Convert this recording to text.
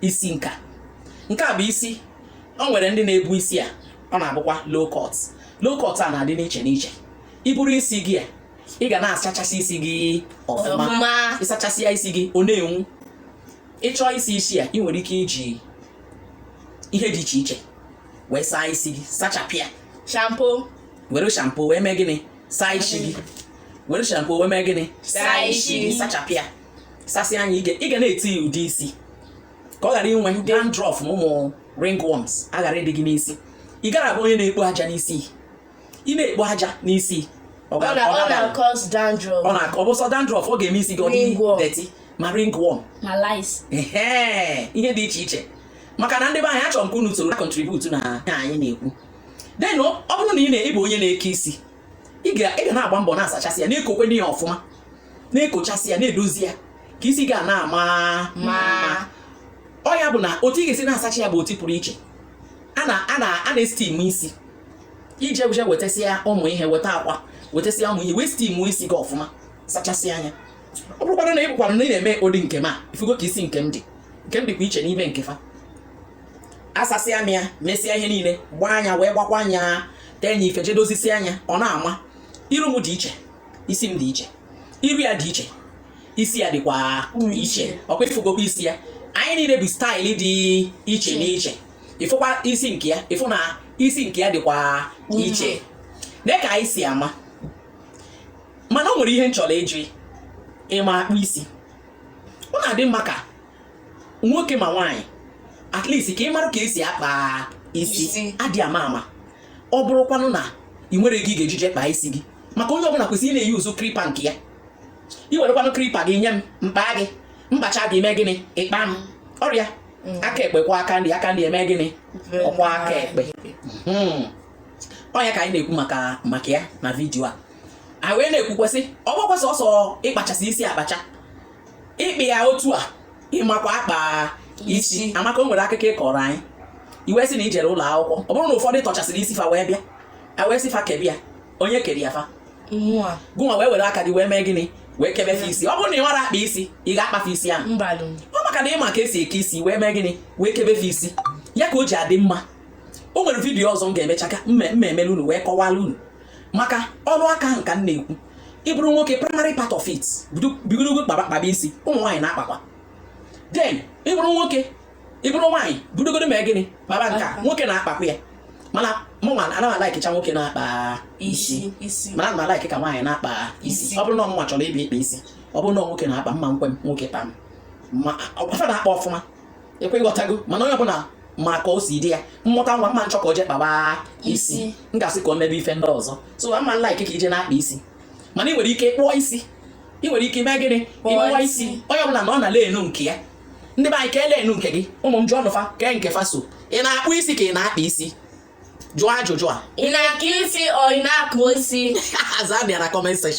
isi nka nke a bụ isi o nwere ndị na-ebu isi a ọ na-abụkwa low cut low cut a na-adị n'iche n'iche i buru isi gị a ị ga na-asachasị isi gị ọfụma ị sachasịa ya isi gị ọ na-enwu ị chọọ ịsa isi a ị nwere ike iji ihe dị iche iche wee saa isi gị sachapịa shampoo were shampoo wee mee gịnị saa isi gị were shampoo wee mee gịnị saa isi gị sachapịa sasịa nya ị ga- ị ga na-ete ya ude isi ka ọ ghara inwe ndị dandruff na ụmụ ringworms a ghara ịdị gị n'isi ị ghara ịbụ onye na-ekpo aja n'isi ị na-ekpo aja n'isi ọ ọ ga- na- ọ ọ ga- na-akọsụ dandruff na- ọ bụ sọ dandruff ọ ga-eme isi gị ọ dị Ringworm. dirty ma ringworm ma lice Ehe, ihe dị iche iche maka na ndị be anyị achọrọ m ka unu soro na-akọntributu na ihe anyị na-ekwu then ọ ọ bụrụ na ị na- ị bụ onye na-eke isi ị ga na-agba mbọ na-asachasị ya na-ekokwe n'ihe ọfụma na-ekochasị ya na-edozi ya ka isi gị na-ama mma ọ ya bụ na otu ị ga-esi na-asacha ya bụ otu pụrụ iche a na-estim isi ije bụje wetasịa ụmụ ihe weta akwa wetasịa ụmụ ihe wee stim isi gị ọfụma sachasịa nya ọ bụrụkwara na ị bụkwara na ị na-eme ụdị nke m a ị fụgo ka isi nke m dị nke m dịkwa iche n'ime nke fa asasịa m ya mesịa ihe niile gbaa nya wee gbakwaa nya tee nya ife je dozisia nya ọ na-ama iru m dị iche isi m dị iche iru ya dị iche isi ya dịkwa iche ọkwa ị fụgokwa isi ya anyị niile bu style dị iche n'iche ị fụkwa isi nke ya ị fụ na isi nke ya dịkwa iche na ka anyị si ama mana o nwere ihe m chọrọ ịjụ ịma akpa isi ọ na-adị mma ka nwoke ma nwaanyị at least ka ị mara ka e si akpa isi adị ama ama ọ bụrụkwanụ na ị nwere ego ị ga-eji je kpaa isi gị maka onye ọbụla kwesịrị ịna-eyuzu clipper nke ya ị werekwanụ clipper gị nye m m kpaa gị m kpachaa gị mee gịnị ị kpaa m ọrịa mm. aka ekpe kwọọ aka nri aka nri emee gịnị ọ kwọọ aka ekpe hmm. ọ nya ka anyị na-ekwu maka maka ya na vidiyo a anyị wee na-ekwukwa sị ọ bụkwa sọsọ ịkpachasị isi akpacha ị kpaa ya otu a ịmakwa akpa isi amaka o nwere akụkọ ị kọọrọ anyị ị wee sị na i jere ụlọ akwụkwọ ọ bụrụ na ụfọdụ tọchasịrị isi fa wee bịa a wee sị fa kebe ya onye kere ya fa gịnwa wee were aka gị wee mee gịnị wee kebe fa isi ọ bụrụ na ị mara akpa isi ị ga-akpa fa isi ahụ ọ maka na ị ma ka e si eke isi wee mee gịnị wee kebe fa isi ya ka o ji adị mma o nwere vidiyo ọzọ m ga-emecha ka m ma emelu unu wee kọwala unu maka ọrụ aka ahụ ka m na-ekwu ị bụrụ nwoke primary part of it bidogodo kpaba isi ụmụ nwaanyị na-akpakwa then ị bụrụ nwoke ị bụrụ nwaanyị bidogodo mee gịnị kpaba nka nwoke na-akpakwa ya mana mụnwa ana m alaikịcha nwoke na-akpa isi mana ana m alaikị ka nwaanyị na-akpa isi ọ bụrụ na ọ mụnwa chọrọ ịbịa ịkpa isi ọ bụrụ na nwoke na-akpa m ma nkwe m nwoke kpaa m ma ọkwa fa na-akpa ọfụma ekwe ịghọtago mana onye ọbụla ma ka o si dị ya m mụta nwa m ma achọ ka o jee kpaba isi m ga-asị ka o mebe ife ndị ọzọ so mma nla ike ka ije na-akpa isi mana ị nwere ike kpụọ isi ị nwere ike mee gịnị ị kpụwa isi onye ọbụla na ọ na lenu nke ya ndị be anyị ka elenu nke gị ụmụ m jụọ nụ fa kee nke fa so ị na-akpụ isi ka ị na-akpa isi jụọ ajụjụ a ị na-akpụ isi ọ ị na-akpụ isi aza bịa na comment section